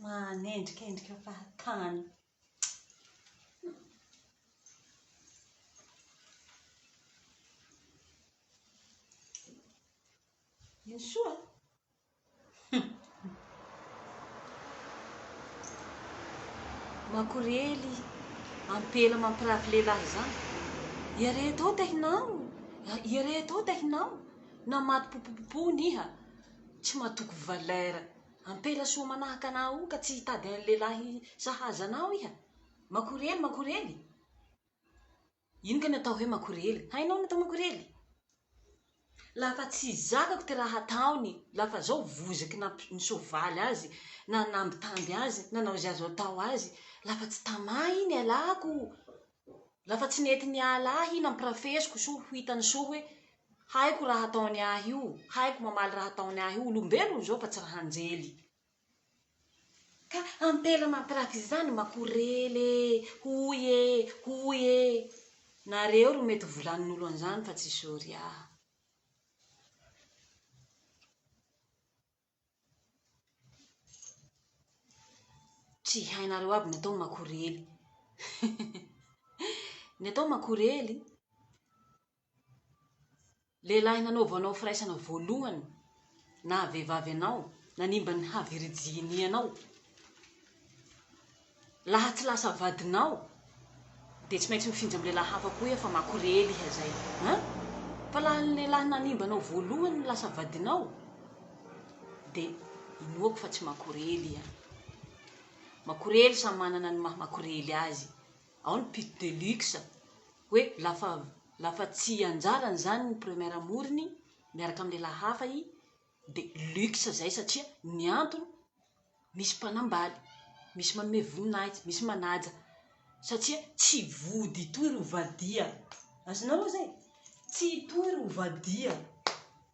Manendrikendrika fahatany. Ino soa? Makorely ampela mampirafy lehilahy izany. Ireto ao tehinao, ireto ao tehinao, na maty popopopohina iha tsy matoky valeur. Ampela soa manahaka anà ao ka tsy hitady an'i lehilahy sahaza anao iha. Makorely, makorely. Ino kay ny atao hoe makorely? Hainao ny atao makorely? La fa tsy zakako ty raha ataony, la fa zao vozaky nampi- ny soavaly azy, na nambitamby azy, nanao izay azo atao azy, la fa tsy tamà i nialako, la fa tsy nety niala ahy i nampirafesiko soa ho hitany soa hoe haiko raha ataony ahy io, haiko mamaly raha ataony ahy io, olombelona zao fa tsy raha anjely. Ka ampela mampiraka izany makorely e! hoy e! hoy e! nareo ro mety volanin'olo an'izany fa tsy sorry aho. Tsy hainareo aby ny atao makorely. Ny atao makorely. Lehilahy nanaova anao firaisana voalohany naha vehivavy anao, nanimba ny havirijinianao. Laha tsy lasa vadinao dia tsy maintsy mifinjy amin'ny lehilahy hafa koa iha fa makorely iha izay an! Fa laha ny lehilahy nanimba anao voalohany no lasa vadinao dia inoako fa tsy makorely iha. Makorely samy manana ny maha makorely azy. Ao ny pit de luxe, hoe lafa lafa tsy anjarany zany ny premier amoriny miaraka am lehilahy hafa i de luxe zay satria ny antony misy mpanambaly, misy manome voninahitsy, misy manaja satria tsy vody itoy ry ovadia, azonao oa zay? tsy itoy ry ovadia.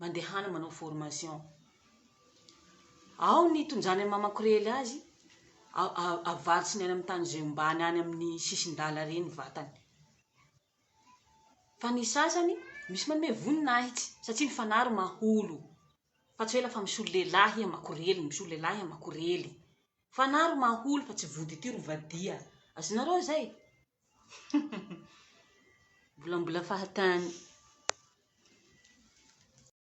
mandehana manao formation ao ny tonjany amin'ny maha makorely azy avarotry ny any amin'ny tany zay ombany any amin'ny sisin-dala re ny vatany fa ny sasany misy manome voninahitsy satria ny fanaro maholo fa tsy hoe lafa misolo lehilahy iha makorely misolo lehilahy iha makorely fanaro maholo fa tsy vody ity ro vadia azonareo zay Mbola mbola fahatany.